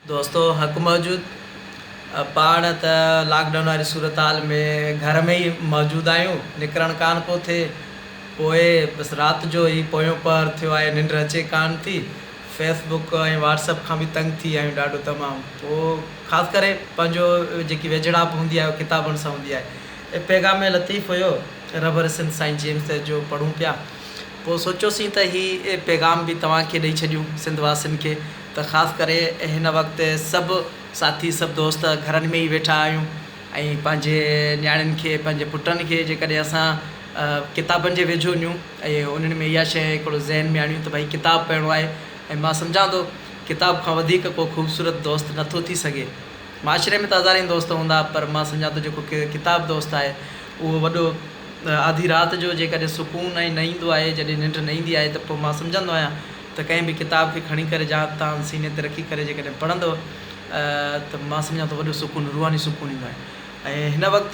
دوستو حق موجود پاڻ ته لاڪ ڊائون واري صورتحال ۾ گهر ۾ ئي موجود آهيون نڪرڻ ڪانه پيو ٿئي پوء بس رات جو هي پويون پهر ٿيو آهي ننڊ اچي ڪانه ٿي فيس بڪ ۽ واٽس اپ کان به تنگ ٿي آهيون ڏاڍو تمام پوء خاص ڪري پنهنجو جيڪي ويجهڙائپ هوندي آهي اها ڪتابن سان هوندي آهي اي پيغام لطيف هيو رهبر سنڌ سائين جيمس ديس جو پڙهون پيا پوء سوچيوسين ته هي پيغام به توهان کي ڏئي ڇڏيون سنڌ واسين کي ته خاص ڪري هن وقت سڀ ساٿي سڀ دوست گهرن ۾ ئي ويٺا آهيون ۽ پنهنجي نياڻين کي پنهنجي پٽن کي جيڪڏهن اسان ڪتابن جي ويجهو نيون ۽ انهن ۾ اها شيء هڪڙو ذهن ۾ آڻيون ته ڀائي ڪتاب پڙهڻو آهي ۽ مان سمجهان ٿو ڪتاب کان وڌيڪ ڪو خوبصورت دوست نه ٿو ٿي سگهي معاشري ۾ ته هزارين دوست هوندا پر مان سمجهان ٿو جيڪو ڪتاب دوست آهي اهو وڏو آڌي رات جو جيڪڏهن سڪون ۽ نه ايندو آهي جڏهن ننڊ نه ايندي آهي ته پوء مان سمجهندو آهيان ته ڪنهن به ڪتاب کي کڻي ڪري جا تان سيني تي رکي ڪري جيڪڏهن پڙهندؤ ته مان سمجهان ٿو وڏو سڪون روحاني سڪون ايندو آهي ۽ هن وقت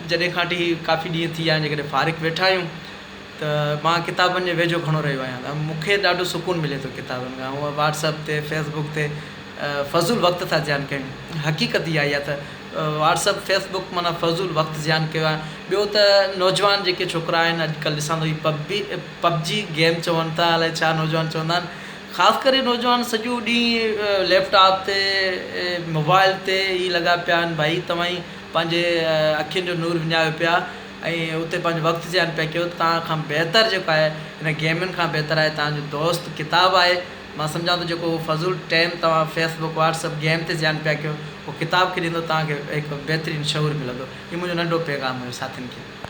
جڏهن کان وٺي ڪافي ڏينهن ٿي ويا آهن جيڪڏهن فارغ ويٺا آهيون ته مان ڪتابن جي ويجهو گهڻو رهيو آهيان ته مون کي ڏاڍو سڪون ملي ٿو ڪتابن کان هونء واٽس اپ تي فيس بڪ تي فضول وقت ٿا زيان ڪيون حقيقت اها ئي آهي ته واٽس اپ فيس بڪ معنيٰ فضول وقت زيان ڪيو آهي ٻيو ته نوجوان جيڪي ڇوڪرا آهن اڄ ڪلهه ڏسان ٿو هي پبي پب جي گيم چون ٿا الائي ڇا نوجوان چوندا آهن خاص ڪري نوجوان سڄو ڏينهن ليپ ٽاپ تي موبائل تي ئي لڳا پيا آهن ڀائي توهان ئي پنهنجي اکين جو نور وڃايو پيا ۽ اتي پنهنجو وقت زيان پيا ڪيو توهان کان بهتر جيڪو آهي ان گيمن کان بهتر آهي توهان جو دوست ڪتاب آهي مان سمجهان ٿو جيڪو هو فضول ٽيم توهان Facebook WhatsApp game تي زيان پيا ڪيو هو ڪتاب کي ڏيندو توهان کي هڪ بهترين شعور ملندو هي منهنجو ننڍو پيغام هيو ساٿين کي